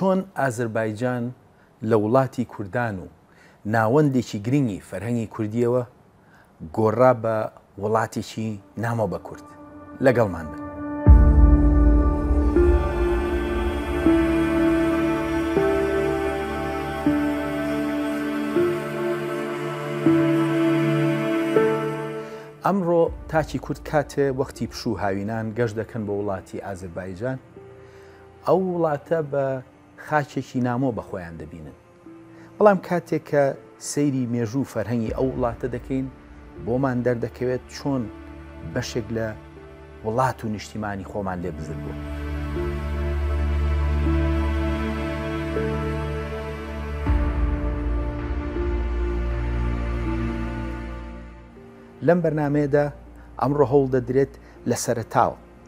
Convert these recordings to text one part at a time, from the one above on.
چۆن ئازربایجان لە وڵاتی کوردان و ناوەندێکی گرنگی فەرهەنگی کوردییەوە گۆڕا بە وڵاتێکی نامۆ بە کورد. لەگەڵمان بن. ئەمڕۆ تاکی کورد کاتێ وەختی پشوو هاوینان گەشت دەکەن بۆ وڵاتی ئازربایجان ئەو وڵاتە بە خاکێکی نامۆ بە خۆیان دەبینن بەڵام کاتێک کە سەیری مێژوو و فەرهەنگی ئەو وڵاتە دەکەین بۆمان دەردەکەوێت چۆن بەشێک لە وڵات و نیشتیمانی خۆمان لێ بزر بوو. لەم بەرنمەیەدا ئەمڕۆ هەوڵ دەدرێت لە سەرتاوە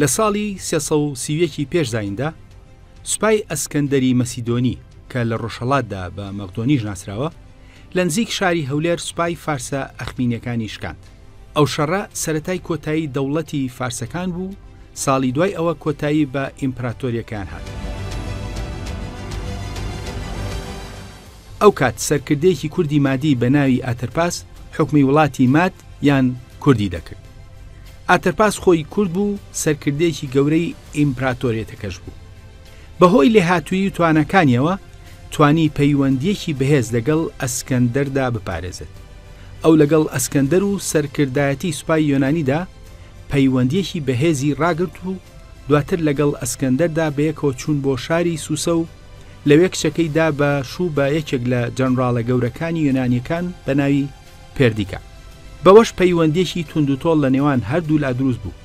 لە ساڵی سێ سەد و سی و یەک ی پێش زاییندا، سوپای ئەسکەندەری مەسیدۆنی کە لە ڕۆژهەڵاتدا بە مەغدۆنیش ناسراوە، لە نزیک شاری هەولێر سوپای فارسە ئەخمینیەکانی شکاند. ئەو شەڕە سەرەتای کۆتایی دەوڵەتی فارسەکان بوو و ساڵی دوای ئەوە کۆتایی بە ئیمپراتۆریەکەیان هات. ئەو کات سەرکردەیەکی کوردی مادی بە ناوی ئاتەرپاس حوکمی وڵاتی ماد یان کوردی دەکرد. ئاتەرپاس خۆی کورد بوو سەرکردەیەکی گەورەی ئیمپراتۆریەتەکەش بوو. بە هۆی لێهاتووی و تواناکانیەوە توانی پەیوەندیەکی بەهێز لەگەڵ ئەسکەندەردا بپارێزێت. ئەو لەگەڵ ئەسکەندەر و سەرکردایەتی سوپای یۆنانیدا پەیوەندیەکی بەهێزی ڕاگرت و دواتر لەگەڵ ئەسکەندەردا بەیەکەوە چوون بۆ شاری سوسە و لەوێ کچەکەی دا بە شوو بە یەکێک لە جەنڕاڵە گەورەکانی یۆنانییەکان بە ناوی پێردیکا. بەوەش پەیوەندییەکی توندوتۆڵ لە نێوان هەردوولا دروست بوو.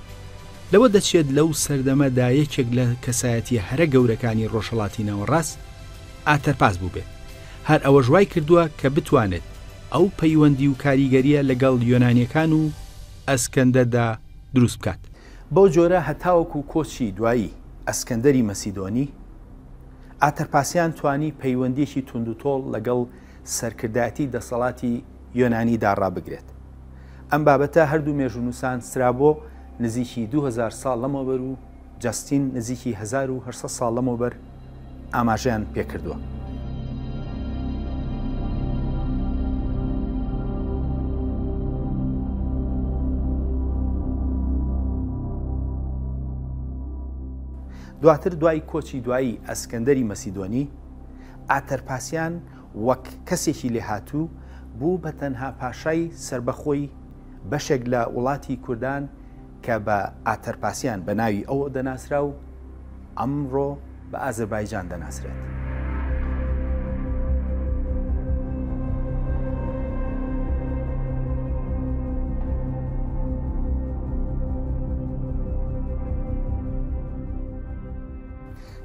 لەوە دەچێت لەو سەردەمە دا یەکێک لە کەسایەتییە هەرە گەورەکانی ڕۆژهەڵاتی ناوەڕاست ئاتەرپاس بووبێت. هەر ئەوەش وای کردووە کە بتوانێت ئەو پەیوەندی و کاریگەرییە لەگەڵ یۆنانییەکان و ئەسکەندەر دا دروست بکات. بەو جۆرە هەتاوەکوو کۆچی دوایی ئەسکەندەری مەسیدۆنی، ئاترپاسیان توانی پەیوەندیەکی توندوتۆڵ لەگەڵ سەرکردایەتی دەسەڵاتی یۆنانیدا ڕابگرێت. ئەم بابەتە هەردوو مێژوونووسان سترابۆ نزیکی دوو هەزار ساڵ لەمەوبەر و جەستین نزیکی هەزار و هەشت سەد ساڵ لەمەوبەر ئاماژەیان پێکردووە. دواتر دوای کۆچی دوایی ئەسکەندەری مەسیدۆنی، ئاتەرپاسیان وەک کەسێکی لێهاتوو بوو بە تەنها پاشای سەربەخۆی بەشێک لە وڵاتی کوردان کە بە ئاتەرپاسیان بە ناوی ئەو دەناسرا و ئەمڕۆ بە ئازربایجان دەناسرێت. بناسرێت.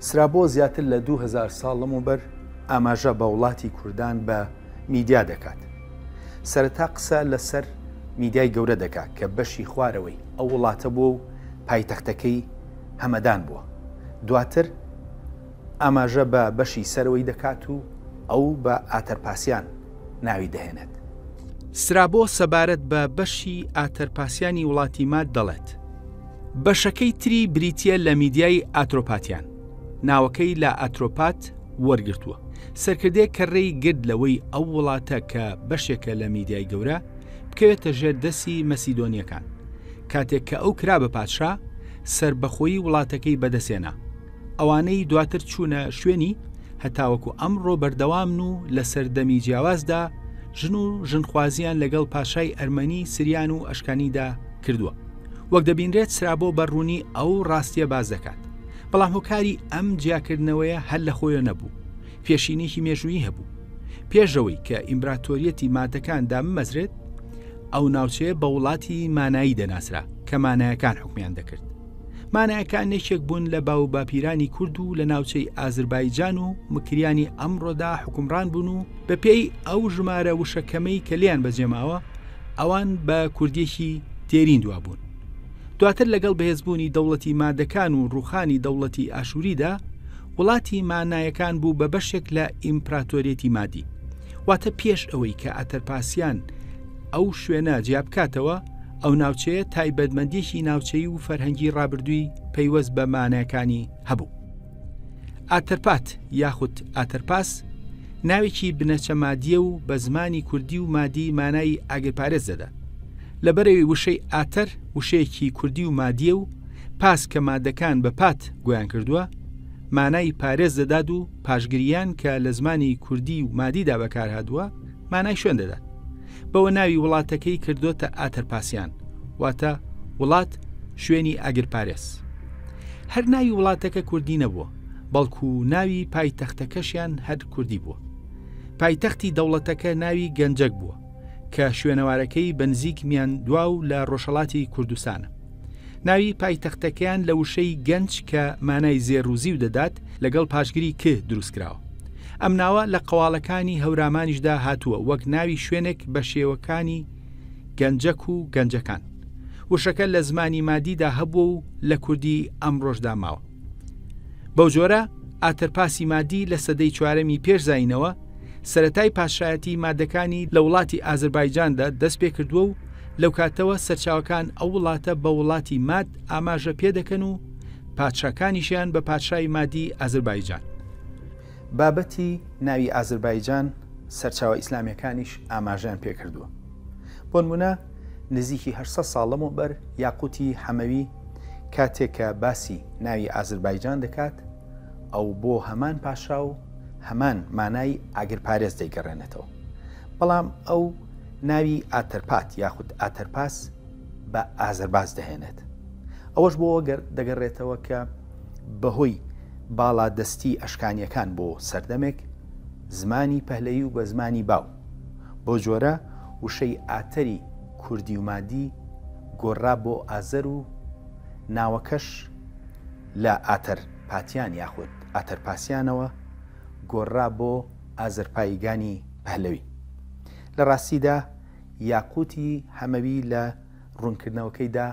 سرابۆ زیاتر لە 2000 ساڵ لەمەوبەر ئاماژە بە وڵاتی کوردان بە میدیا دەکات سەرەتا قسە لەسەر میدیای گەورە دەکات کە بەشی خوارەوەی ئەو وڵاتە بۆ و پایتەختەکەی هەمەدان بووە. دواتر ئاماژە بە بەشی سەرەوەی دەکات و ئەو بە ئاتەرپاسیان ناوی دەهێنێت. سترابۆ سەبارەت بە بەشی ئاتەرپاسیانی وڵاتی ماد دەڵێت، بەشەکەی تری بریتییە لە میدیای ئاترۆپاتیان، ناوەکەی لە ئاترۆپات وەرگرتووە، سەرکردەیەک کە رێی گرت لەوەی ئەو وڵاتە کە بەشێکە لە میدیای گەورە، بکەوێتە ژێر دەستی مەسیدۆنییەکان. کاتێک کە ئەو کرا بە پادشا سەربەخۆیی وڵاتەکەی بەدەسێنا ئەوانەی دواتر چوونە شوێنی هەتاوەکو ئەمڕۆ بەردەوامن و لە سەردەمی جیاوازدا ژن و ژنخوازیان لەگەڵ پاشای ئەرمەنی سریان و ئەشکانیدا کردووە وەک دەبینرێت سرابۆ بەڕوونی ئەو ڕاستیە باز دەکات بەڵام هۆکاری ئەم جیاکردنەوەیە هەر لە خۆیە نەبوو پێشینێکی مێژوویی هەبوو. پێشەوەی کە ئیمبراتۆریەتی مادەکان داممەزرێت، ئەو ناوچەیە بە وڵاتی مانایی دەناسرا کە مانایەکان حکمیان دەکرد. مانایەکان یەکێک بوون لە باو باپیرانی کورد و لە ناوچەی ئازربایجان و مکریانی ئەمڕۆدا حکومڕان بوون و بە پێی ئەو ژمارە وشەکەمەی کە لیان بەجێماوە ئەوان بە کوردێکی دێرین دوابوون. دواتر لەگەڵ بەهێزبوونی دەوڵەتی مادەکان و ڕوخانی دەوڵەتی ئاشووریدا وڵاتی مانایەکان بوو بە بەشێک لە ئیمپراتۆریەتی مادی واتە پێش ئەوەی کە ئەتەرپاسیان ئەو شوێنە جیابکاتەوە ئەو ناوچەیە تایبەتمەندیشی ناوچەی و فەرهەنگی ڕابردووی پەیوەست بە مانایەکانی هەبوو ئاتەرپات یاخود ئاتەرپاس ناوێکی بنەچە مادیە و بە زمانی کوردی و مادی مانایی ئاگرپارێز دەدات لەبەرەی وشەی ئاتەر وشەیەکی کوردی و مادیە و پاس کە مادەکان بە پات گویان کردووە مانای پارێز دەدات و پاشگریان کە لە زمانی کوردی و مادیدا بەکارهادووە مانای شوێن دەدات بەوە ناوی وڵاتەکەی کردوتە ئاتەرپاسیان واتە وڵات شوێنی ئاگر پارێز هەر ناوی وڵاتەکە کوردی نەبووە بەڵکو ناوی پای تەختەکەشیان هەر کوردی بووە پایتەختی دەوڵەتەکە ناوی گەنجەک بووە کە شوێنەوارەکەی بەنزیک میاندوا و لە ڕۆژهڵاتی کوردستانە. ناوی پایتەختەکەیان لە وشەی گەنج کە مانای زێڕوزی و دەدات لەگەڵ پاشگری ک دروستکراوە. ئەم ناوە لە قەواڵەکانی هەورامانیشدا هاتووە وەک ناوی شوێنێک بە شێوەکانی گەنجەک و گەنجەکان. وشەکە لە زمانی مادیدا هەبووە و لە کوردی ئەمڕۆشدا ماوە. بەو جۆرە ئاتەرپاسی مادی لە سەدەی چوارەمی پێش زاینەوە سەرەتای پاشایەتی مادەکانی لە وڵاتی ئازربایجاندا دەست پێکردووە و لەو کاتەوە سەرچاوەکان ئەو وڵاتە بە وڵاتی ماد ئاماژە پێ دەکەن و پادشاکانیشیان بە پادشای مادی ئازربایجان. بابەتی ناوی ئازربایجان سەرچاوە ئیسلامیەکانیش ئاماژەیان پێ کردووە. بۆنمونە نزیکی هەشت سەد ساڵ لەمەوبەر یاقوتی حەمەوی کاتێک کە باسی ناوی ئازربایجان دەکات، ئەو بۆ هەمان پاشا و هەمان مانای ئاگرپارێز دەیگەڕێنێتەوە. بەڵام ئەو ناوی ئاتەرپات یاخود ئاتەرپاس بە ئازەرباس دەهێنێت. ئەوەش بۆ ئەگەر دەگەڕێتەوە کە بەهۆی باڵا دەستی ئەشکانیەکان بۆ سەردەمێک زمانی پەهلەیی و بە زمانی باو بۆ جۆرە وشەی ئاتەری کوردی و مادی گۆڕرا بۆ ئازەر و ناوەکەش لە ئاتەرپاتیان یاخود ئاتەرپاسیانەوە گۆڕرا بۆ ئازەرپاییگانی پەهلەوی. لە ڕاستیدا یاقووتی حەمەوی لە ڕوونکردنەوەکەیدا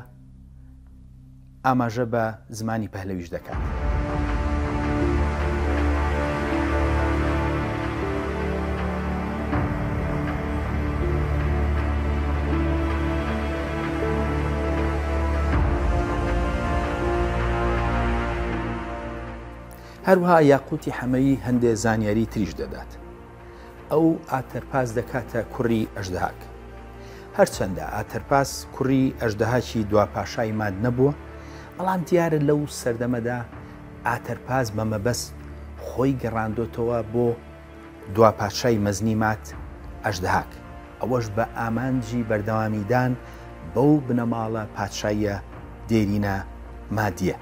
ئاماژە بە زمانی پەهلەویش دەکات. هەروها یاقوتی حەمەیی هەندێ زانیاری تریش دەدات ئەو ئاتەرپاس دەکاتە کوڕی ئەژدهاک هەرچەندە ئاتەرپاس کوڕی ئەژدهاکی دوا پاشای ماد نەبووە بەڵام دیارە لەو سەردەمەدا ئاتەرپاس بە مەبەست خۆی گەڕاندۆتەوە بۆ دوا پادشای مەزنی مات ئەژدهاک، ئەوەش بە ئامانجی بەردەوامیدان بەو بنەماڵە پادشاییە دێرینە مادیە.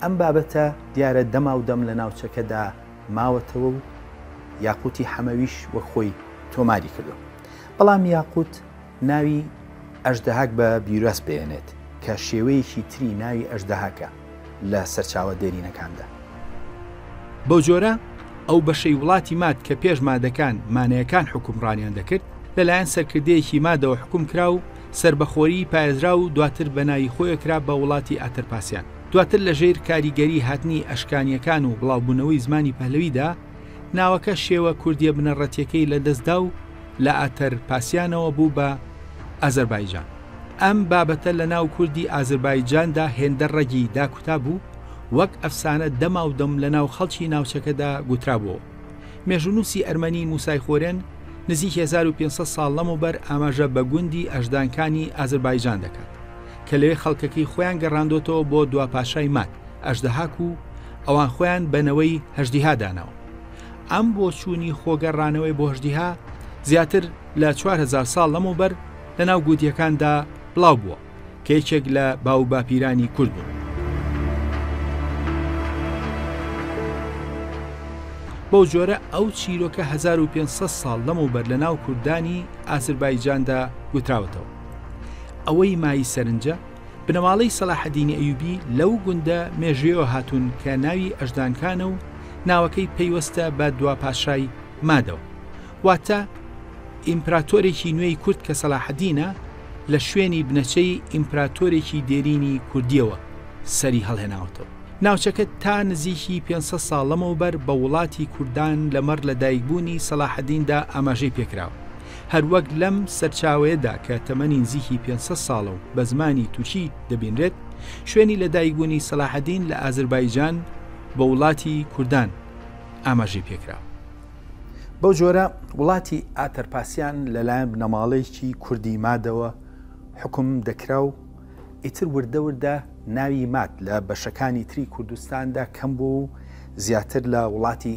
ئەم بابەتە دیارە دەماودەم لە ناوچەکەدا ماوەتەوە و یاقوتی حەمەویش وەک خۆی تۆماری کردوە. بەڵام یاقوت. ناوی ئەژدەهاک بە بیراس بێنێت کە شێوەیەکی تری ناوی ئەژدەهاکە لە سەرچاوە دێرینەکاندا. بەو جۆرە ئەو بەشەی وڵاتی ماد کە پێش مادەکان مانەیەکان حوکمڕانیان دەکرد، لەلایەن سەرکردەیەکی مادەوە حوکم کرا و سەربەخۆیی پارێزرا و دواتر بە ناوی خۆێ کرا بە وڵاتی ئاترپاسیان. دواتر لە ژێر کاریگەری هاتنی ئەشکانییەکان و بڵاوبوونەوەی زمانی پەهلەویدا، ناوەکە شێوە کوردییە بنەڕەتییەکەی لە دەست دا و، لە ئاتەر پاسیانەوە بوو بە ئازەربایجان. ئەم بابەتە لە ناو کوردی ئازربایجاندا هێندە ڕەگی داکوتا بوو، وەک ئەفسانە دەماودەم لە ناو خەڵکی ناوچەکەدا گوترابووەوە. مێژوونووسی ئەرمەنی موسای خۆرێن نزیک هەزار و پێنج سەد ساڵ لەمەوبەر ئاماژە بە گوندی ئەژدانکانی ئازربایجان دەکات، کە لەوێ خەڵکەکەی خۆیان گەڕاندۆتەوە بۆ دوا پاشای ماد، ئەژدەهاک و ئەوان خۆیان بە نەوەی هەژدیها داناوە. ئەم بۆچوونی خۆگەڕانەوەی بۆشدیها زیاتر لە 4هزار ساڵ لەمەوبەر لە ناو گووتیەکاندا بڵاو بووە کە یەکێک لە باو باپیرانی کورد بوون. بەو جۆرە ئەو چیرۆکە 1500 ساڵ لەمەوبەر لە ناو کوردانی ئازربایجاندا گوتراوەتەوە. ئەوەی مای سەرنجە بنەماڵەی سەلاحەدینی ئەیوبی لەو گوندە مێژویەوە هاتوون کە ناوی ئەژدانکانە و ناوەکەی پەیوەستە بە دوا پاشای مادەوە واتە ئیمپراتۆرێکی نوێی کورد کە سەلاحەدینە لە شوێنی بنەچەی ئیمپراتۆرێکی دێرینی کوردیەوە سەری هەڵهێناوەتەوە ناوچەکە تا نزیکی 500 ساڵ لەمەوبەر بە وڵاتی کوردان لەمەڕ لە دایکبوونی سەلاحەدیندا ئاماژەی پێکراوە هەروەک لەم سەرچاوەیەدا کە تەمەنی نزیکی پێنج سەد ساڵە و بە زمانی تورکی دەبینرێت، شوێنی لەدایکبوونی سەلاحەدین لە ئازربایجان بە وڵاتی کوردان ئاماژەی پێکراوە. بەو جۆرە وڵاتی ئاتەرپاسیان لەلایەن بنەماڵەیەکی کوردی مادەوە حوکم دەکرا و ئیتر وردە وردە ناوی ماد لە بەشەکانی تری کوردستاندا کەم بووە و زیاتر لە وڵاتی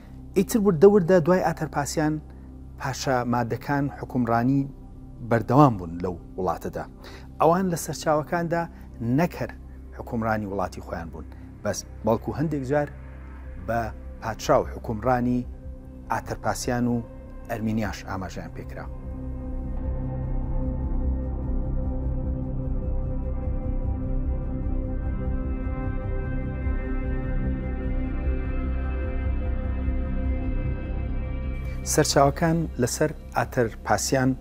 ئیتر وردە وردە دوای ئاتەرپاسیان پاشا مادەکان حکومڕانی بەردەوام بوون لەو وڵاتەدا ئەوان لە سەرچاوەکاندا نەکەر حکومڕانی وڵاتی خۆیان بوون بەس بەڵکو هەندێک جار بە پادشا و حکومڕانی ئاتەرپاسیان و ئەرمینیاش ئاماژەیان پێکرا. سەرچاوەکان لەسەر ئاتەر پاسیان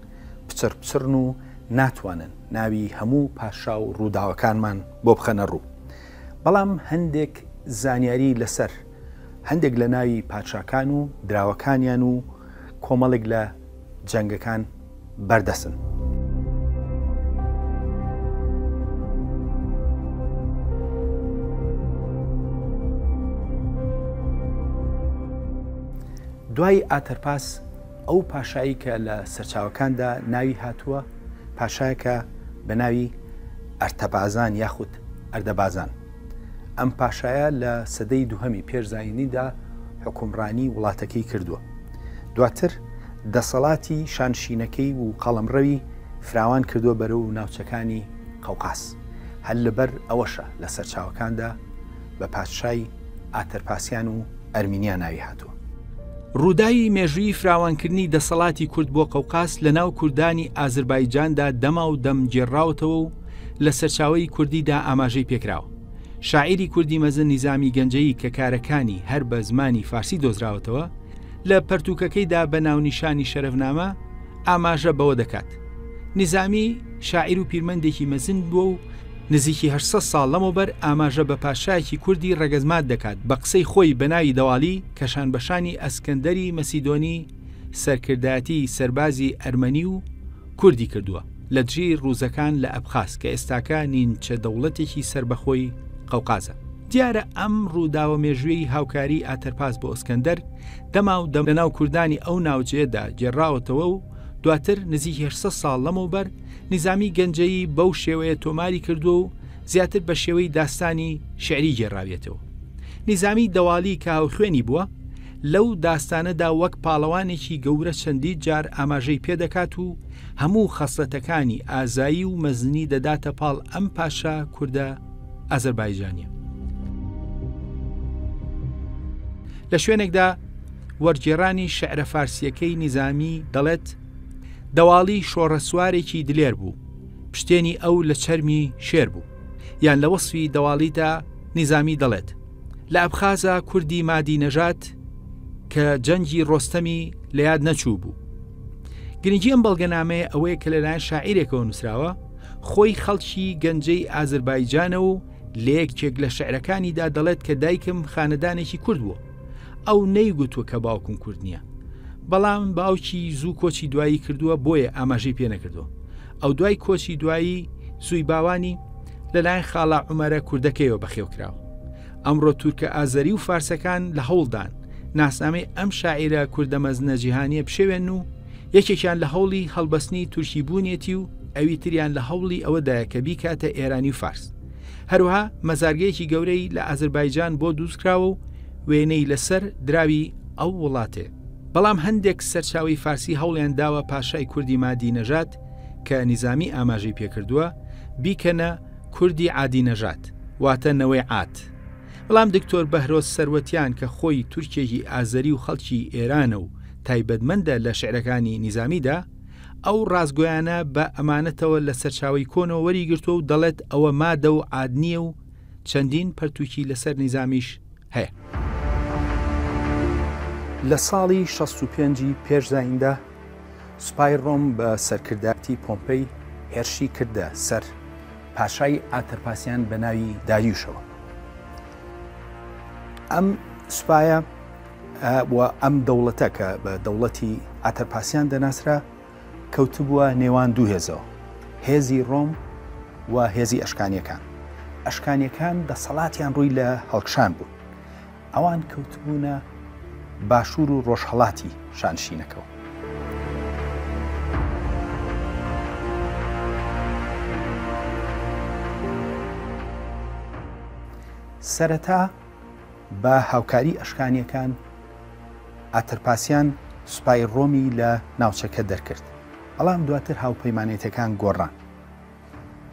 پچڕ پچڕن و ناتوانن ناوی هەموو پاشا و ڕووداوەکانمان بۆ بخەنە ڕوو بەڵام هەندێک زانیاری لەسەر هەندێک لە ناوی پادشاکان و دراوەکانیان و کۆمەڵێک لە جەنگەکان بەردەسن. دوای ئاتەرپاس ئەو پاشایی کە لە سەرچاوەکاندا ناوی هاتووە پاشایەکە بە ناوی ئەرتەبازان یاخود ئەردەبازان ئەم پاشایە لە سەدەی دووهەمی پێش زایینیدا حکومڕانی وڵاتەکەی کردووە دواتر دەسەڵاتی شانشینەکەی و قەڵمڕەوی فراوان کردووە بەرە و ناوچەکانی قەوقاس هەل لەبەر ئەوەشە لە سەرچاوەکاندا بە پادشای ئاتەرپاسیان و ئەرمینیا ناوی هاتووە ڕووداوی مێژووی فراوانکردنی دەسەڵاتی کورد بۆ قەوقاس لە ناو کوردانی ئازربایجاندا دەما و دەم گێڕاوتەوە و لە سەرچاوەی کوردی دا ئاماژەی پێکراوە. شاعیری کوردی مەزن نیزامی گەنجەیی کە کارەکانی هەر بە زمانی فارسی دۆزراوەتەوە، لە پەرتووکەکەی دا بە ناونیشانی شەرەفنامە ئاماژە بەوە دەکات، نیزامی شاعیر و پیرمەندێکی مەزن بووە و، نزیکی هەشت سەد ساڵ لەمەوبەر ئاماژە بە پادشایەکی کوردی ڕەگەزمات دەکات بە قسەی خۆی بە ناوی دەوالی کە شانبەشانی ئەسکەندەری مەسیدۆنی سەرکردایەتی سەربازی ئەرمەنی و کوردی کردووە لە دژی ڕووزەکان لە ئەبخاز کە ئێستاکە نینچە دەوڵەتێکی سەربەخۆی قەوقازە. دیارە ئەم ڕووداوە مێژووی هاوکاری ئاتەرپاس بۆ ئەسکەندەر دەما و دەم لە ناو کوردانی ئەو ناوجەیەدا گێڕاوەتەوە و دواتر نزیک هەشت سەد ساڵ لەمەوبەر نیزامی گەنجەیی بەو شێوەیە تۆماری کردووە و زیاتر بە شێوەی داستانی شیعری گێڕاویەتەوە. نیزامی دەواڵی کە هاوخوێنی بووە، لەو داستانەدا وەک پاڵەوانێکی گەورە چەندی جار ئاماژەی پێدەکات و هەموو خەسلەتەکانی ئازایی و مەزنی دەداتە پاڵ ئەم پاشا کوردە ئازەربایجانە. لە شوێنێکدا وەرگێڕانی شعرە فارسیەکەی نیزامی دەڵێت دەواڵی شۆڕەسوارێکی دلێر بوو پشتێنی ئەو لە چەرمی شێر بوو یان لە وەصفی دەواڵیدا نیزامی دەڵێت لە ئەبخازا کوردی مادی نەژات کە جەنگی ڕۆستەمی لە یاد نەچوو بوو گرنگی ئەم بەڵگەنامەیە ئەوەیە کە لەلایەن شاعیرێکەوە نووسراوە خۆی خەڵکی گەنجەی ئازربایجانە و لە یەکێک لە شعرەکانیدا دەڵێت کە دایکم خانەدانێکی کورد بووە ئەو نەیگوتوە کە باوکم کورد نییە بەڵام باوکی زوو کۆچی دوایی کردووە بۆیە ئاماژەی پێ نەکردووە ئەو دوای کۆچی دوایی سوی باوانی لەلایەن خاڵە عومەرە کوردەکەیەوە بەخێوکراوە. ئەمڕۆ تورکە ئازەری و فارسەکان لە هەوڵدان ناسنامەی ئەم شاعیرە کوردە مەزنە جیهانیە بشێوێن و یەکێکیان لە هەوڵی هەڵبەستنی تورکی بوونیەتی و ئەوی تریان لە هەوڵی ئەوەدایە کە بیکاتە ئێرانی و فارس. هەروەها مەزارگەیەکی گەورەی لە ئازربایجان بۆ دووزکراوە و وێنەی لەسەر دراوی ئەو وڵاتێ. بەڵام هەندێک سەرچاوەی فارسی هەوڵیان داوە پاشای کوردی مادی نەژاد کە نیزامی ئاماژەی پێکردووە، بیکەنە، کوردی عادی نەژاد، واتە نەوەی عاد. بەڵام دکتۆر بەهرۆز سەروەتیان کە خۆی تورکێکی ئازەری و خەڵکی ئێرانە و تایبەتمەندە لە شیعرەکانی نیزامیدا، ئەو ڕاستگۆیانە بە ئەمانەتەوە لە سەرچاوەی کۆنەوە وەریگرتووە و دەڵێت ئەوە مادە و عاد نییە و چەندین پەرتووکی لەسەر نیزامیش هەیە. لە ساڵی شەست و پێنج ی پێش زاییندا، سوپای ڕۆم بە سەرکردایەتی پۆمپەی هێرشی کردە سەر پاشای ئاتەرپاسیان بە ناوی داریوشەوە ئەم سوپایە ئەم دەوڵەتە کە بە دەوڵەتی ئاتەرپاسیان دەناسرا کەوتبووە نێوان دوو هێزەوە هێزی ڕۆم و هێزی ئەشکانیەکان ئەشکانیەکان دەسەڵاتیان ڕووی لە هەڵکشان بوو ئەوان کەوتبوونە باشوور و ڕۆژهەڵاتی شانشینەکەوە. سەرەتا بە هاوکاری ئەشکانیەکان ئاترپاسیان سوپای ڕۆمی لە ناوچەکە دەرکرد، بەڵام دواتر هاوپەیمانێتەکان گۆڕان.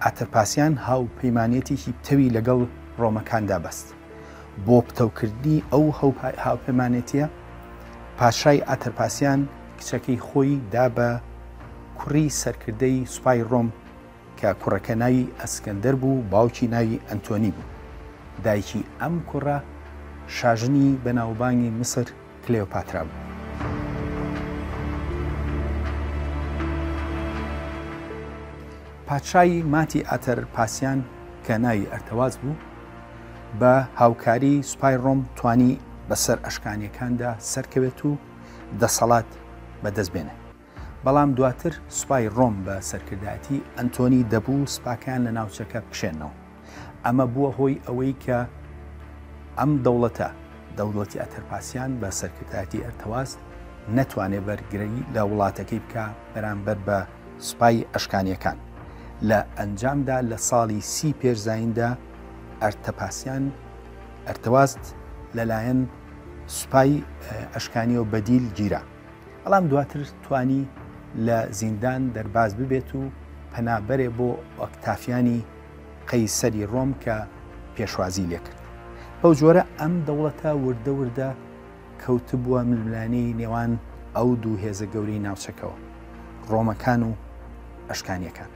ئاترپاسیان هاوپەیمانێتیی پتەوی لەگەڵ ڕۆمەکاندا بەست. بۆ پتەوکردنی ئەو هاوپەیمانێتییە، پاشای ئاترپاسیان کچەکەی خۆی دا بە کوڕی سەرکردەی سوپای ڕۆم کە کوڕەکە ناوی ئەسکەندەر بوو و باوکی ناوی ئەنتۆنی بوو. دایکی ئەم کوڕە شاژنی بەناوبانگی میسر، کلێۆپاترا بوو. پادشای ماتی ئاتەر پاسیان کە ناوی ئەرتەواز بوو، بە هاوکاری سوپای ڕۆم توانی بەسەر ئەشکانیەکاندا سەرکەوێت و دەسەڵات بەدەست بێنێ. بەڵام دواتر سوپای ڕۆم بە سەرکردایەتی ئەنتۆنی دەبوو سوپاکەیان لە ناوچەکە بکشێنەوە، ئەمە بووە هۆی ئەوەی کە ئەم دەوڵەتە، دەولەتی ئەتەرپاسیان بە سەرکردایەتی ئەرتەواز، نەتوانێت بەرگری لە وڵاتەکەی بکا بەرامبەر بە سوپای ئەشکانیەکان. لە ئەنجامدا لە ساڵی سی پێش زاییندا ئەرتەپاسیان، ئەرتەواز، لەلایەن سوپای ئەشکانیەوە بەدیل گیرا. بەڵام دواتر توانی لە زیندان دەرباز ببێت و پەنابەرێ بۆ ئۆکتافیانی قەیسەری ڕۆم کە پێشوازی لێکرد. بەو جۆرە ئەم دەوڵەتە وردە وردە کەوتبووە ململانێی نێوان ئەو دوو هێزە گەورەی ناوچەکەوە، ڕۆمەکان و ئەشکانیەکان.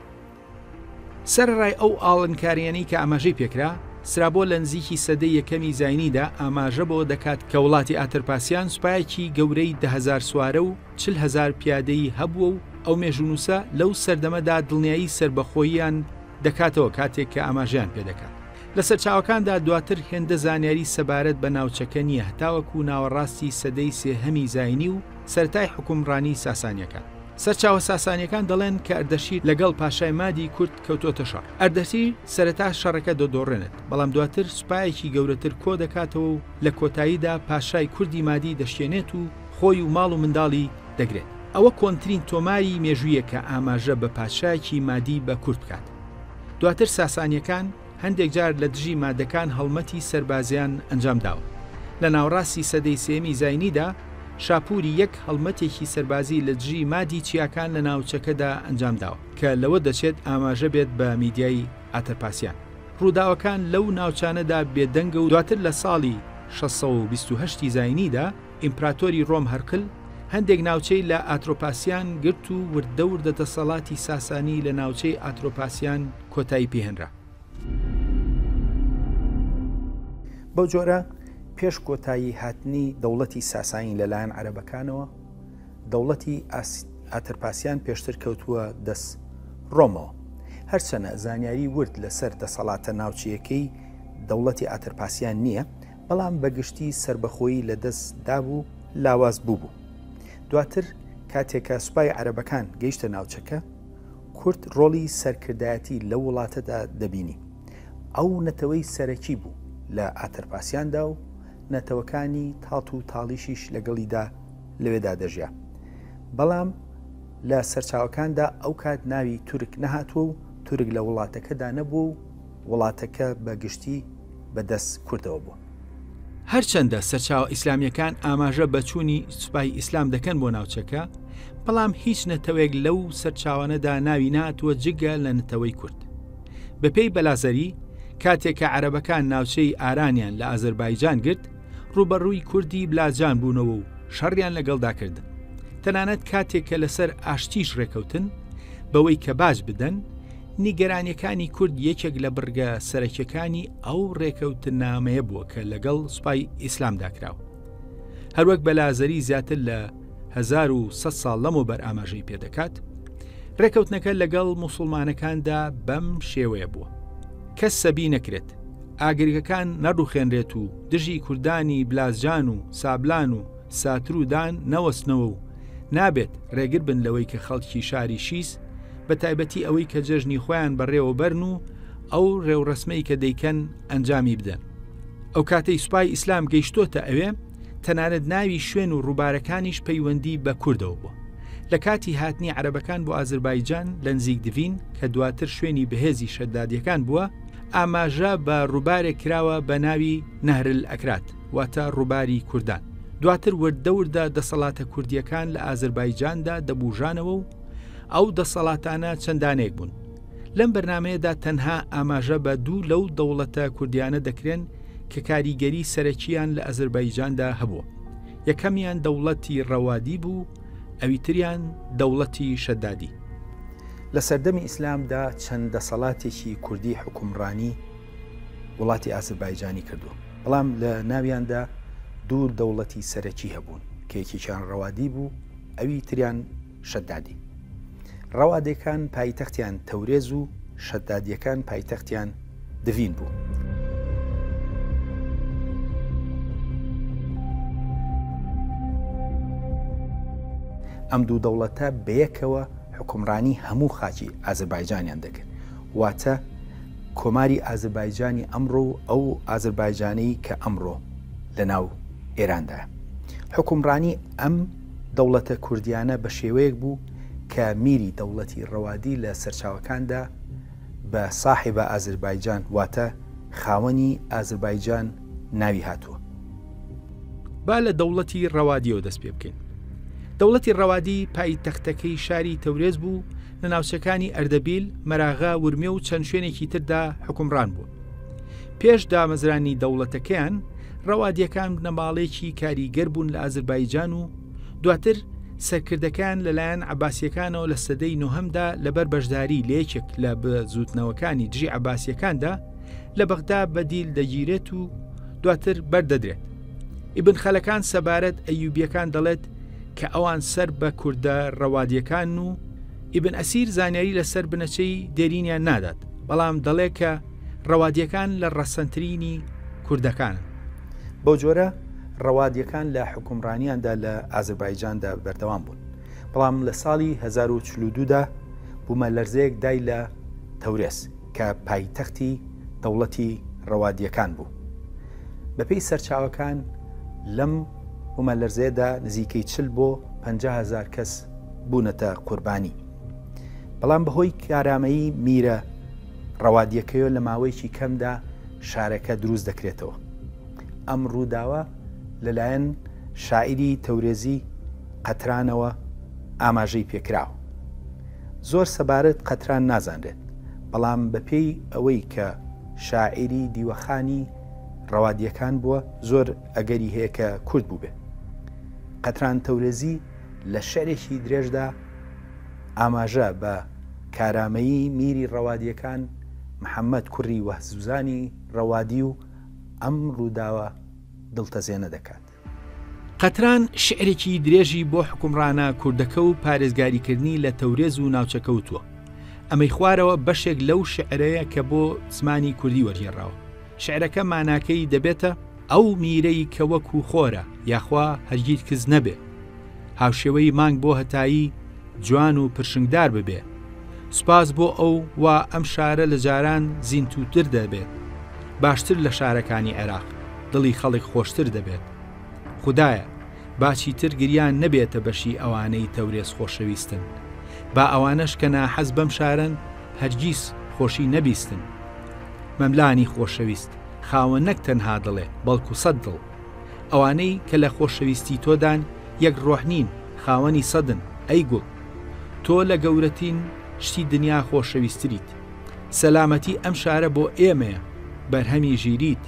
سەرەڕای ئەو ئاڵنکارییەنەی کە ئاماژەی پێکرا، سرابۆ لە نزیکی سەدەی یەکەمی زاینیدا ئاماژە بەوە دەکات کە وڵاتی ئاترپاسیان سوپایەکی گەورەی دە هەزار سوارە و چل هەزار پیادەی هەبووە و ئەو مێژوونووسە لەو سەردەمەدا دڵنیایی سەربەخۆییان دەکاتەوە کاتێک کە ئاماژەیان پێ دەکات لە سەرچاوەکاندا دواتر هێندە زانیاری سەبارەت بە ناوچەکە نییە هەتاوەکو ناوەڕاستی سەدەی سێهەمی زاینی و سەرەتای حوکمڕانی ساسانییەکان. سەرچاوە ساسانیەکان دەڵێن کە ئەردەشیر لەگەڵ پاشای مادی کورد کەوتۆتە شەڕ. ئەردەشیر سەرەتا شەڕەکە دەدۆڕێنێت، بەڵام دواتر سوپایەکی گەورەتر کۆ دەکاتەوە و لە کۆتاییدا پاشای کوردی مادی دەشکێنێت و خۆی و ماڵ و منداڵی دەگرێت. ئەوە کۆنترین تۆماری مێژوویە کە ئاماژە بە پادشایەکی مادی بە کورد بکات. دواتر ساسانیەکان. هەندێک جار لە دژی مادەکان هەڵمەتی سەربازیان ئەنجام داوە. لە ناوەڕاستی سەدەی سێیەمی زاینیدا، شاپووری یەک هەڵمەتێکی سەربازی لە دژی مادی چیاکان لە ناوچەکەدا ئەنجام داوە، کە لەوە دەچێت ئاماژە بێت بە میدیای ئاتەرپاسیان. ڕووداوەکان لەو ناوچانەدا بێدەنگە و دواتر لە ساڵی شەش سەد و بیست و هەشت ی زاینیدا، ئیمپراتۆری ڕۆم هەرقل هەندێک ناوچەی لە ئاترۆپاسیان گرت و وردە وردە دەسەڵاتی ساسانی لە ناوچەی ئاترۆپاسیان کۆتایی پێهێنرا. بەو جۆرە پێش کۆتایی هاتنی دەوڵەتی ساسانی لەلایەن عەرەبەکانەوە، دەوڵەتی ئاترپاسیان پێشتر کەوتووە دەست ڕۆمەوە. هەرچەنە زانیاری ورد لەسەر دەسەڵاتە ناوچەیەکەی دەوڵەتی ئاترپاسیان نییە، بەڵام بە گشتی سەربەخۆیی لە دەست دابوو لاواز بووبوو. دواتر کاتێکە سوپای عەرەبەکان گەیشتە ناوچەکە، کورد ڕۆڵی سەرکردایەتی لەو وڵاتەدا دەبینی. ئەو نەتەوەی سەرەکی بوو لە ئاتەرپاسیاندا و نەتەوەکانی تاڵ و تاڵیشیش لەگەڵیدا لەوێدا دەژیا. بەڵام لە سەرچاوەکاندا ئەو کات ناوی تورک نەهاتووە و تورک لە وڵاتەکەدا نەبووە و وڵاتەکە بە گشتی بە دەست کوردەوە بووە. هەرچەندە سەرچاوە ئیسلامیەکان ئاماژە بە چوونی سوپای ئیسلام دەکەن بۆ ناوچەکە، بەڵام هیچ نەتەوەیەک لەو سەرچاوانەدا ناوی نەهاتووە جگە لە نەتەوەی کورد. بە پێی بەلازەری، کاتێک کە عەرەبەکان ناوچەی ئارانیان لە ئازەربایجان گرت، ڕووبەڕووی کوردی بلاجان بوونەوە و شەڕیان لەگەڵدا کردن. تەنانەت کاتێک کە لەسەر ئاشتیش ڕێکەوتن، بەوەی کە باج بدەن، نیگەرانیەکانی کورد یەکێک لە بڕگە سەرەکیەکانی ئەو ڕێکەوتنامەیە بووە کە لەگەڵ سوپای ئیسلام داکراوە هەروەک بەلازەری زیاتر لە 1900 ساڵ لەمەوە بەر ئاماژەی پێدەکات ڕێکەوتنەکە لەگەڵ مسلمانەکاندا بەم شێوەیە بووە کە سەبی نەکرێت ئاگرگەکان نەڕوخێنرێت و دژی کوردانی بلازجان و سابلان و ساتر و دان نەوەستنەوە و نابێت رێگر بن لەوەی کە خەڵکی شاری شیس بە تایبەتی ئەوەی کە جەژنی خۆیان بەڕێوە بەرن و ئەو رێوڕسمەی کە دەیکەن ئەنجامی بدەن ئەو کاتەی سوپای ئیسلام گەیشتۆتە ئەوێ تەنانەت ناوی شوێن و ڕووبارەکانیش پەیوەندی بە کوردەوە بووە لە کاتی هاتنی عربەکان بۆ ئازربایجان لە نزیک دڤین کە دواتر شوێنی بەهێزی شەدادیەکان بووە ئاماژە بە ڕووبارێک کراوە بە ناوی نەهرل ئەکرات واتە ڕووباری کوردان. دواتر وردە وردە دەسەڵاتە کوردیەکان لە ئازربایجاندا دەبوژانەوە و ئەو دەسەڵاتانە چەندانێک بوون. لەم بەرنمەیەدا تەنها ئاماژە بە دوو لەو دەوڵەتە کوردیانە دەکرێن کە کاریگەری سەرەکییان لە ئەزربایجاندا هەبووە. یەکەمیان دەوڵەتی ڕەوادی بوو، ئەویتریان دەوڵەتی شەدادی. لە سەردەمی ئیسلامدا چەند دەسەڵاتێکی کوردی حوکمڕانی وڵاتی ئازربایجانی کردووە. بەڵام لە ناویاندا دوو دەوڵەتی سەرەکی هەبوون کە یەکێکیان ڕەوادی بوو ئەوی تریان شەدادی ڕەوادەکان پایتەختیان تەورێز و شەدادیەکان پایتەختیان دڤین بوو. ئەم دوو دەوڵەتە بەیەکەوە حکومڕانی هەموو خاچی ئازربایجانیان دەکرد واتە کۆماری ئازربایجانی ئەمڕۆ و ئەو ئازربایجانەی کە ئەمڕۆ لە ناو ئێراندایە. حوکمڕانی ئەم دەوڵەتە کوردیانە بە شێوەیەک بوو کە میری دەوڵەتی ڕەوادی لە سەرچاوەکاندا بە ساحێبە ئازربایجان واتە خاوەنی ئازربایجان ناوی هاتووە. با لە دەوڵەتی ڕەوادیەوە دەست پێ بکەین. دەوڵەتی ڕەوادی پایتەختەکەی شاری تەورێز بوو، لە ناوچەکانی ئەردەبیل، مەراغە، ورمێ و چەند شوێنێکی تردا حکومڕان بوون. پێش دامەزرانی دەوڵەتەکەیان ڕەوادیەکان بنەماڵێکی کاریگەر بوون لە ئازربایجان و دواتر سەرکردەکان لەلایەن عباسیەکانەوە لە سەدەی نۆهمدا لەبەر بەشداری لە یەکێک لە بزوتنەوەکانی دژی عباسیەکاندا لە بەغدا بەدیل دەگیرێت و دواتر بەردەدرێت ئیبن خەلەکان سەبارەت ئەیوبیەکان دەڵێت کە ئەوان سەر بە کوردە ڕەوادییەکانن و ئیبن ئەسیر زانیاری لەسەر بنەچەی دێرینیان نادات، بەڵام دەڵێ کە ڕەوادییەکان لە ڕەسەنترینی کوردەکانن. بەو جۆرە ڕەوادییەکان لە حوکمڕانییاندا لە ئازربایجاندا بەردەوام بوون، بەڵام لە ساڵی هەزار و چل و دوو دا بوومەلەرزەیەک دای لە تەورێز کە پایتەختی دەوڵەتی ڕەوادییەکان بوو. بەپێی سەرچاوەکان لەم. بومەلەرزەیەدا نزیکەی چل بۆ پەنجا هەزار کەس بوونەتە قوربانی بەڵام بەهۆی کارامەیی میرە ڕەوادیەکەیە لە ماوەیەکی کەمدا شارەکە دروست دەکرێتەوە ئەم ڕووداوە لەلایەن شاعری تەورێزی قەترانەوە ئاماژەی پێکراوە زۆر سەبارەت قەتران نازانرێت بەڵام بەپێی ئەوەی کە شاعری دیوەخانی ڕەوادیەکان بووە زۆر ئەگەری هەیە کە کورد بووبێ. قەتران تەورێزی لە شعرێکی درێژدا ئاماژە بە کارامەیی میری ڕەوادییەکان محەممەد کوڕی وەهزوزانی ڕەوادی و ئەم ڕووداوە دڵتەزێنە دەکات. قەتران شعرێکی درێژی بۆ حوکمڕانە کوردەکە و پارێزگاریکردنی لە تەورێز و ناوچە کەوتووە. ئەمەی خوارەوە بەشێک لەو شعرەیە کە بۆ زمانی کوردی وەرگێڕاوە. شعرەکە ماناکەی دەبێتە، ئەو میرەی کە وەکوو خۆرە، یاخوا هەرگیت کز نەبێ. هاوشێوەی مانگ بۆ هەتایی، جوان و پرشنگدار ببێ. سوپاس بۆ ئەو وا ئەم شارە لە جاران زینتووتر دەبێت. باشتر لە شارەکانی عێراق، دڵی خەڵک خۆشتر دەبێت. خودایە، با چیتر گریان نەبێتە بەشی ئەوانەی تەورێز خۆشەویستن. با ئەوانەش کە ناحەز بەم شارەن، هەرگیز خۆشی نەبیستن. مەملانی خۆشەویست خاوە نەک تەنها دڵێ بەڵکو سەد دڵ. ئەوانەی کە لە خۆشەویستی تۆدان یەک ڕۆح نین خاوەنی سەدن ئەی گوڵ. تۆ لە گەورەتین شتی دنیا خۆشەویستریت. سەلامەتی ئەم شارە بۆ ئێمەیە بەرهەمی ژیریت.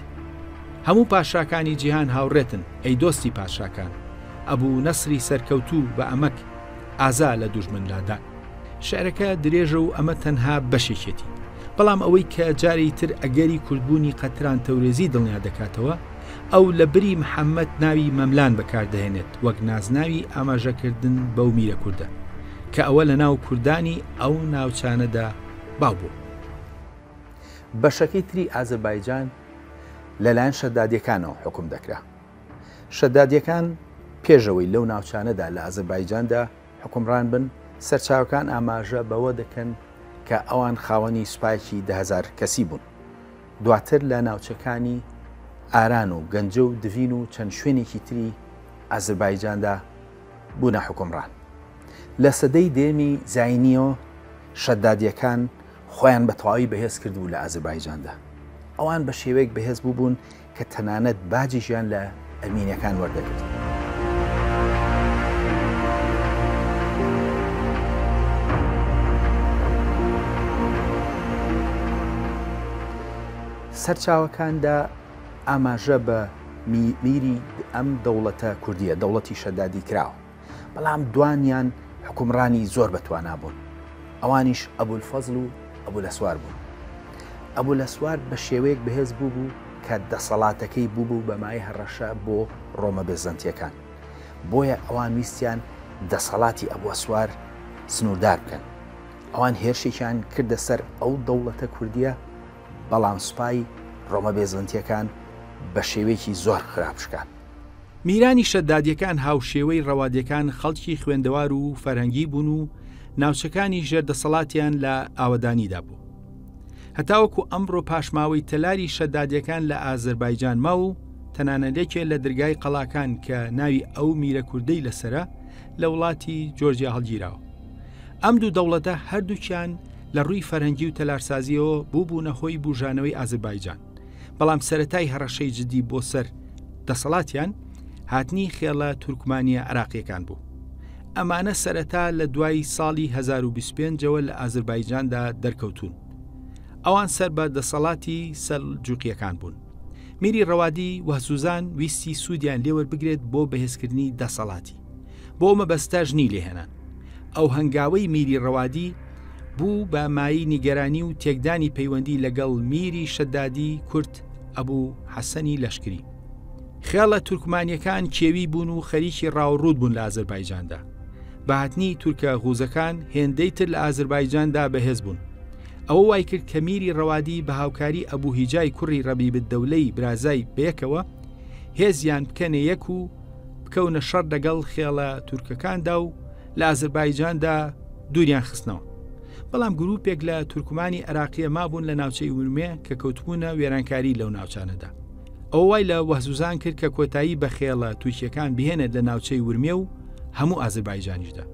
هەموو پاشاکانی جیهان هاوڕێتن ئەی دۆستی پاشاکان. ئەبو نەسری سەرکەوتوو بە ئەمەک ئازا لە دوژمن لادان. شعرەکە درێژە و ئەمە تەنها بەشێکێتی بەڵام ئەوەی کە جاری تر ئەگەری کوردبوونی قەتران تەورێزی دڵنیا دەکاتەوە ئەو لە بری محەممەد ناوی مەملان بەکاردەهێنێت وەک نازناوی ئاماژەکردن بەو میرە کوردە کە ئەوە لە ناو کوردانی ئەو ناوچانەدا باوبوو بەشەکەی تری ئازربایجان لەلایەن شەدادیەکانەوە حکوم دەکرا شەدادیەکان پێشەوەی لەو ناوچانەدا لە ئازربایجاندا حوکمڕان بن، سەرچاوەکان ئاماژە بەوە دەکەن کە ئەوان خاوەنی سوپایەکی دە هەزار کەسی بوون، دواتر لە ناوچەکانی ئاران و گەنجە و دڤین و چەند شوێنێکی تری ئازربایجاندا بوونە حوکمڕان. لە سەدەی دەیەمی زاینییەوە شەدادییەکان خۆیان بە تەواوی بەهێز کردبوو لە ئازربایجاندا، ئەوان بە شێوەیەک بەهێز بووبوون کە تەنانەت باجیشیان لە ئەرمینیەکان وەردەگرت. سەرچاوەکاندا ئاماژە بە میری ئەم دەوڵەتە کوردیە، دەوڵەتی شەدادی کراوە. بەڵام دوانیان حوکمڕانی زۆر بەتوانا بوون ئەوانیش ئەبولفەزل و ئەبولەسوار بوون ئەبولەسوار بە شێوەیەک بەهێز بوو بوو کە دەسەڵاتەکەی بوو بوو بە مای هەڕەشە بۆ ڕۆمە بێزەنتیەکان بۆیە ئەوان ویستیان دەسەڵاتی ئەبوەسوار سنووردار بکەن ئەوان هێرشێکیان کردە سەر ئەو دەوڵەتە کوردیە بەڵام سوپای ڕۆمە بێزنتیەکان بە شێوەیەکی زۆر خراپ شکان میرانی شەدادیەکان هاوشێوەی ڕەوادیەکان خەڵکی خوێندەوار و فەرهەنگی بوون و ناوچەکانی ژێر دەسەڵاتیان لە ئاوەدانیدا بوو. هەتاوەکو ئەمڕۆ پاشماوەی تەلاری شەدادیەکان لە ئازربایجان ما و تەنانەلێکێ لە درگای قەڵاکان کە ناوی ئەو میرە کوردەی لەسرە لە وڵاتی جۆرجیا هەڵگیراوە. ئەم دوو دەوڵەتە هەردووکیان لە ڕووی فەرهەنگی و تەلارسازیەوە بووبوونە هۆی بوژانەوەی ئازربایجان بەڵام سەرەتای هەڕەشەی جدی بۆ سەر دەسەڵاتیان هاتنی خێڵە تورکمانیە عراقیەکان بوو ئەمانە سەرەتا لە دوای ساڵی 2025ەوە لە ئازربایجاندا دەرکەوتون ئەوان سەر بە دەسەڵاتی سەر جوقیەکان بوون میری ڕەوادی وەسوزان ویستی سوودیان لێوەربگرێت بۆ بەهێزکردنی دەسەڵاتی بۆ مەبەستاژنی لێهێنان ئەو هەنگاوەی میری ڕەوادی بوو بە مایی نیگەرانی و تێکدانی پەیوەندی لەگەڵ میری شەدادی کورت ئەبوو حەسەنی لەشکری خێڵە تورکمانیەکان کێوی بوون و خەریکی ڕاوڕوود بوون لە ئازربایجاندا بەهاتنی تورکە غوزەکان هێندەی تر لە ئازربایجاندا بەهێز بوون ئەوە وای کرد کە میری ڕەوادی بە هاوکاری ئەبوو هیجای کوڕی ڕەبی بدەولەی برازای بەیەکەوە هێزیان بکەنە یەک و بکەونە شەڕ دەگەڵ خێڵە تورکەکاندا و لە ئازربایجاندا دووریان خستنەوە بەڵام گروپێک لە تورکمانی عراقیە مابوون لە ناوچەی ورمێ کە کەوتبوونە وێرانکاری لەو ناوچانەدا ئەو وای لە وەهزوزان کرد کە کۆتایی بە خێڵە تووشیەکان بهێنێت لە ناوچەی ورمێ و هەموو ئازربایجانیشدا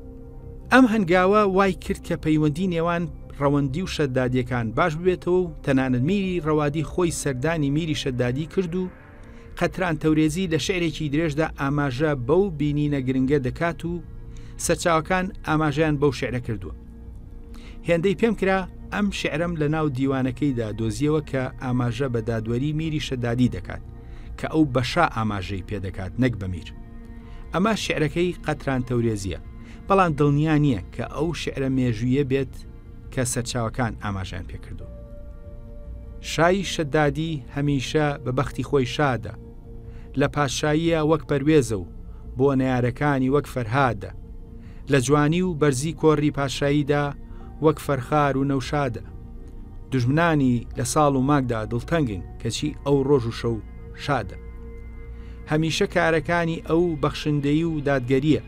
ئەم هەنگاوە وای کرد کە پەیوەندی نێوان ڕەوەندی و شەدادیەکان باش ببێتەوە و تەنانەت میری ڕەوادی خۆی سەردانی میری شەدادی کرد و قەتران تەورێزی لە شعرێکی درێژدا ئاماژە بەو بینینە گرنگە دەکات و سەرچاوەکان ئاماژیان بەو شعرە کردووە هێندەی پێم کرا ئەم شعرم لە ناو دیوانەکەیدا دۆزیەوە کە ئاماژە بە دادوەری میری شەدادی دەکات کە ئەو بەشا ئاماژەی پێدەکات نەک بەمیر ئەمە شعرەکەی قەتران تەورێزیە بەڵام دڵنیا نییە کە ئەو شعرە مێژویە بێت کە سەرچاوەکان ئاماژەیان پێکردووە. شای شەدادی هەمیشە بە بەختی خۆی شادە، لە پادشاییە وەک پەروێزە و بۆ نەیارەکانی وەک فەرهادە، لە جوانی و بەرزی کۆڕی پادشاییدا وەک فەرخار و نەوشادە. دژمنانی لە ساڵ و ماکدا دڵتەنگن کەچی ئەو ڕۆژ و شەو شادە. هەمیشە کارەکانی ئەو بەخشندەیی و دادگەریە.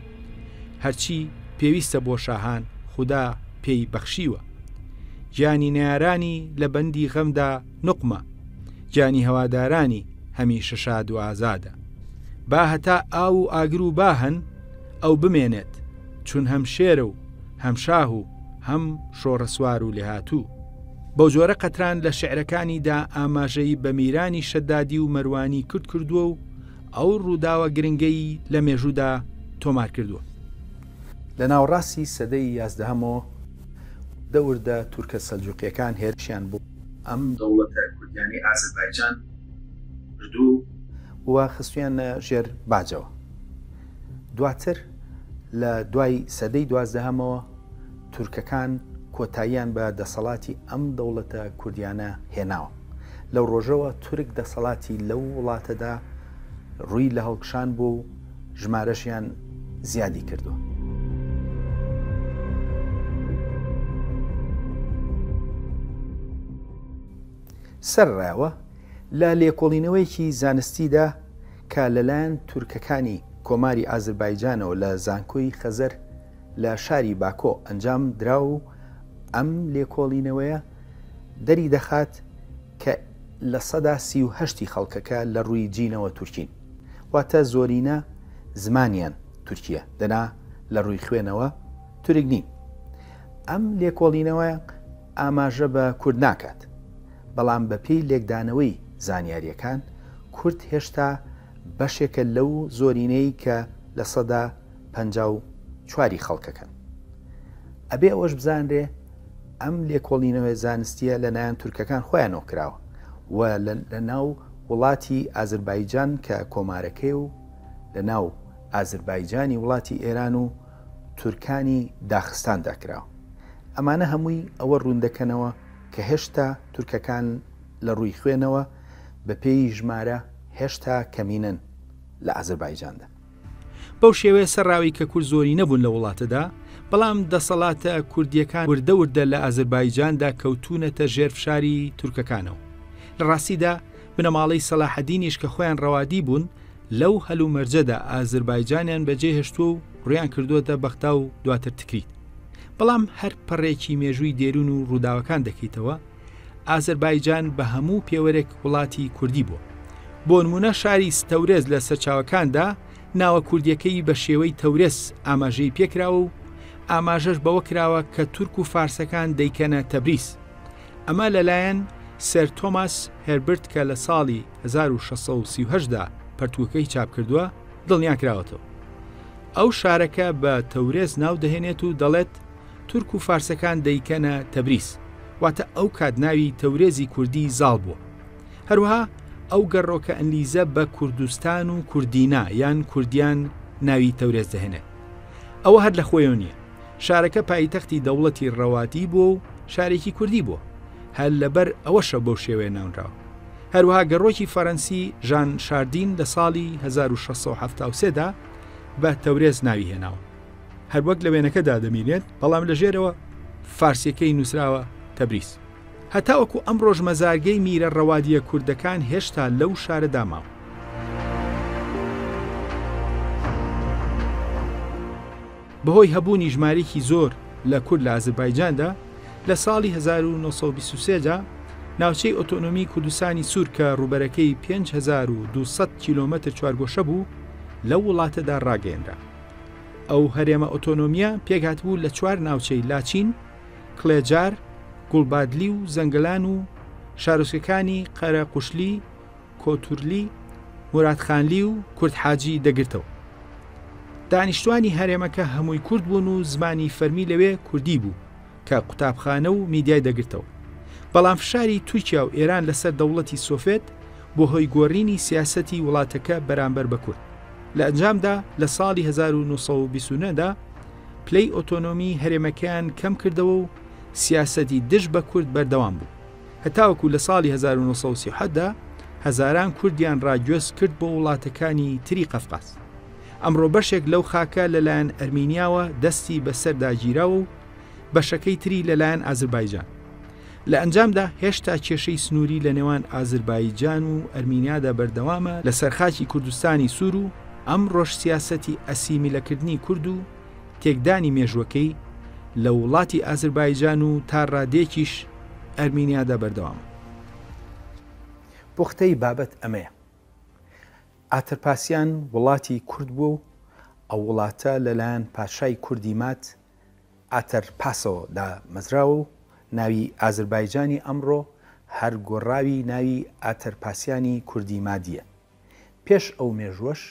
هەرچی پێویستە بۆ شاهان خودا پێی بەخشیوە گیانی نارانی لە بەندی غەمدا نقمە گیانی هەوادارانی هەمیشە شاد و ئازادە با هەتا ئاو و ئاگر و باهن ئەو بمێنێت چون هەم شێرە و هەم شاه و هەم شۆڕەسوار و لێهاتوو بەو جۆرە قەتران لە شعرەکانیدا ئاماژەی بە میرانی شەدادی و مەروانی کورد کردووە و ئەو ڕووداوە گرنگەی لە مێژوودا تۆمار کردووە. لە ناوەڕاستی سەدەی یازدەهەمەوە وردەوردە تورکە سەلجوقییەکان هێرشیان بۆ ئەم دەوڵەتە کوردیانەی ئازەربایجان کردو، و خستوویانە ژێر باجەوە دواتر لە دوای سەدەی دوازدەهەمەوە تورکەکان کۆتاییان بە دەسەڵاتی ئەم دەوڵەتە کوردیانە هێناوە. لەو ڕۆژەوە تورک دەسەڵاتی لەو وڵاتەدا ڕووی لە هەڵکشان بووە و ژمارەشیان زیادی کردووە. سەرڕاوە لە لێکۆڵینەوەیەکی زانستیدا کە لەلایەن تورکەکانی کۆماری ئازربایجانەوە لە زانکۆی خەزەر لە شاری باکۆ ئەنجام درا و ئەم لێکۆڵینەوەیە دەری دەخات کە لە سەدا سی و هەشتی خەڵکەکە لە ڕووی جینەوە تورکین واتە زۆرینە زمانیان تورکیە دەنا لە ڕووی خوێنەوە تورک نین ئەم لێکۆڵینەوە ئاماژە بە کورد ناکات بەڵام بە پێی لێکدانەوەی زانیاریەکان کورد هێشتا بەشێکە لەو زۆرینەی کە لە سەدا پەنجا و چواری خەڵکەکەن. ئەبێ ئەوەش بزانرێ ئەم لێکۆڵینەوە زانستیە لە نایەن تورکەکان خۆیانەوە کراوە و لە ناو وڵاتی ئازربایجان کە کۆمارەکەی و لە ناو ئازربایجانی وڵاتی ئێران و تورکانی داخستاندا کراوە. ئەمانە هەمووی ئەوە ڕووندەکەنەوە کە هێشتا تورکەکان لە ڕووی خوێنەوە بە پێی ژمارە، هێشتا کەمینەن لە ئازربایجاندا. بەو شێوەیە سەرراوی کە کورد زۆرینە بوون لە وڵاتەدا، بەڵام دەسەڵاتە کوردییەکان وردە وردە لە ئازربایجاندا کەوتوونەتە ژێر فشاری تورکەکانەوە. لە ڕاستیدا بنەماڵەی سەلاحەدینیش کە خۆیان ڕەوادی بوون لەو هەلومەرجەدا ئازربایجانیان بەجێ هێشتووە و ڕوویان کردووەتە بەغدا و دواتر تکریت. بەڵام هەر پەڕێکی مێژووی دێرون و ڕووداوەکان دەکەیتەوە، ئازەربایجان بە هەموو پێوەرێک وڵاتی کوردی بووە بۆنمونە شاری ستەورێز لە سەرچاوەکاندا ناوە کوردیەکەی بە شێوەی تەورێز ئاماژەی پێکراوە و ئاماژەش بەوە کراوە کە تورک و فارسەکان دەیکەنە تەبریز ئەمە لەلایەن سەر تۆماس هەربرت کە لە ساڵی 1630دا پەرتووکەی چاپ کردووە دڵنیاکراوەتەوە ئەو شارەکە بە تەورێز ناو دەهێنێت و دەڵێت تورک و فارسەکان دەیکەنە تەبریز، واتە ئەو کات ناوی تەورێزی کوردی زاڵ بووە. هەروەها ئەو گەڕۆکە ئنلیزە بە کوردستان و کوردینا یان کوردیان ناوی تەورێز دەهێنێت. ئەوە هەر لە خۆیەوە نییە. شارەکە پایتەختی دەوڵەتی ڕەواتی بووە و شارێکی کوردی بووە. هەر لەبەر ئەوەشە بەو شێوەیە ناونراوە. هەروەها گەڕۆکی فەرەنسی ژان شاردین لە ساڵی هەزار و شەش سەد و حەفتا و سێ دا بە تەورێز ناوی هێناوە. هەروەک لە وێنەکەدا دەبینرێت، بەڵام لە ژێرەوە فارسییەکەی نووسراوە تەبریز. هەتاوەکو ئەمڕۆش مەزارگەی میرە ڕەوادییە کوردەکان هێشتا لەو شارەدا ماوە. بەهۆی هەبوونی ژمارێکی زۆر لە کورد لە ئازربایجاندا، لە ساڵی 1923 دا ناوچەی ئۆتۆنۆمی کوردستانی سوور کە ڕووبەرەکەی 5200 کیلۆمەتر چوارگۆشە بوو، لەو وڵاتەدا ڕاگەیەنرا. ئەو هەرێمە ئۆتۆنۆمیە پێکهاتبوو لە چوار ناوچەی لاچین، کڵێجار، گوڵبادلی و زەنگلان و شارۆچکەکانی قەرە قوشلی، کۆتورلی، مرادخانلی و کوردحاجی دەگرتەوە. دانیشتوانی هەرێمەکە هەمووی کورد بوون و زمانی فەرمی لەوێ کوردی بوو، کە قوتابخانە و میدیای دەگرتەوە. بەڵام فشاری تورکیا و ئێران لەسەر دەوڵەتی سۆفێت بووە هۆی گۆڕینی سیاسەتی وڵاتەکە بەرامبەر بە کورد. لە ئەنجامدا لە ساڵی 1929 دا پلەی ئۆتۆنۆمی هەرێمەکەیان کەم کردەوە و سیاسەتی دژ بە کورد بەردەوام بوو. هەتاوەکو لە ساڵی 1937 دا هەزاران کوردیان ڕا گوێز کرد بۆ وڵاتەکانی تری قەفقاز. ئەمڕۆ بەشێک لەو خاکە لەلایەن ئەرمینیاوە دەستی بەسەردا گیراوە و، بەشەکەی تری لەلایەن ئازربایجان لە ئەنجامدا هێشتا کێشەی سنووری لە نێوان ئازربایجان و ئەرمینیادا بەردەوامە لە سەرخاکی کوردستانی سوور و ئەم ڕۆژ سیاسەتی ئەسیمیلەکردنی کورد و تێکدانی مێژووەکەی لە وڵاتی ئازربایجان و تا ڕادێکیش ئەرمینیادا بەردەوامە. پوختەی بابەت ئەمەیە ئاترپاسیان وڵاتی کورد بووە و ئەو وڵاتە لەلایەن پاشای کوردی ماد ئاتەر پاسۆ دامەزراوە و ناوی ئازربایجانی ئەمڕۆ هەر گۆڕاوی ناوی ئاتەرپاسیانی کوردی مادییە. پێش ئەو مێژووەش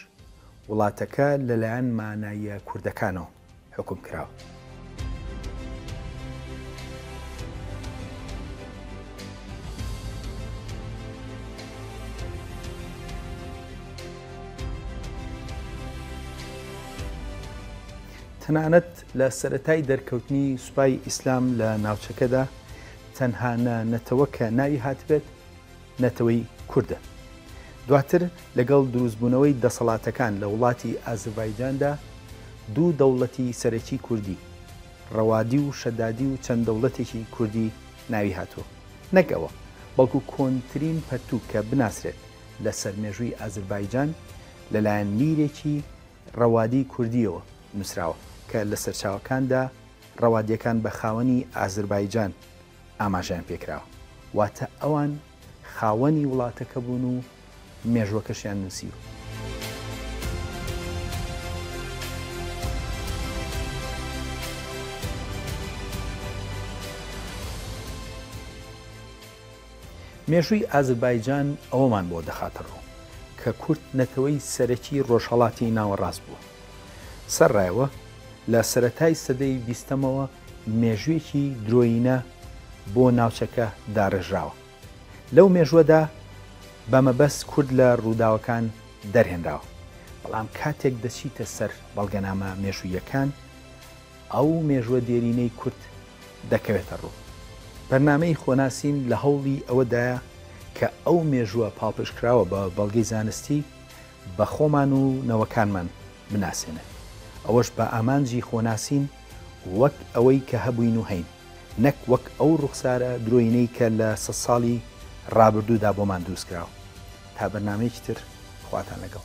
وڵاتەکە لەلایەن ماناییە کوردەکانەوە حوکم کراوە. تەنانەت لە سەرەتای دەرکەوتنی سوپای ئیسلام لە ناوچەکەدا تەنها نە نەتەوە کە ناوی هاتبێت نەتەوەی کوردە. دواتر لەگەڵ دروستبوونەوەی دەسەڵاتەکان لە وڵاتی ئازربایجاندا دوو دەوڵەتی سەرەکی کوردی، ڕەوادی و شەدادی و چەند دەوڵەتێکی کوردی ناوی هاتووە. نەک ئەوە، بەڵکو کۆنترین پەرتووک کە بناسرێت لەسەر مێژووی ئازربایجان لەلایەن میرێکی، ڕەوادی کوردییەوە نووسراوە، کە لە سەرچاوەکاندا ڕەوادییەکان بە خاوەنی ئازربایجان ئاماژەیان پێ کراوە، واتە ئەوان خاوەنی وڵاتەکە بوون و مێژووەکەشیان نووسیوە. مێژووی ئازربایجان ئەوەمان بۆ دەخاتەڕوو کە کورد نەتەوەی سەرەکی ڕۆژهەڵاتی ناوەڕاست بووە. سەرڕێوە لە سەرەتای سەدەی بیستەمەوە مێژوویەکی درۆیینە بۆ ناوچەکە داڕێژراوە. لەو مێژووەدا بە مەبەست کورد لە ڕووداوەکان دەرهێنراوە. بەڵام کاتێک دەچیتە سەر بەڵگەنامە مێژووییەکان، ئەو مێژوە دێرینەی کورد دەکەوێتە ڕوو. بەرنامەی خۆناسین لە هەوڵی ئەوەدایە کە ئەو مێژوە پاڵپشتکراوە بە بەڵگەی زانستی بە خۆمان و نەوەکانمان بناسێنێت. ئەوەش بە ئامانجی خۆناسین وەک ئەوەی کە هەبووین و هەین، نەک وەک ئەو ڕوخسارە درۆینەی کە لە سەد ساڵی ڕابردوودا بۆمان دروستکراوە. تا بەرنامەیەکی تر خواتان لەگەڵ.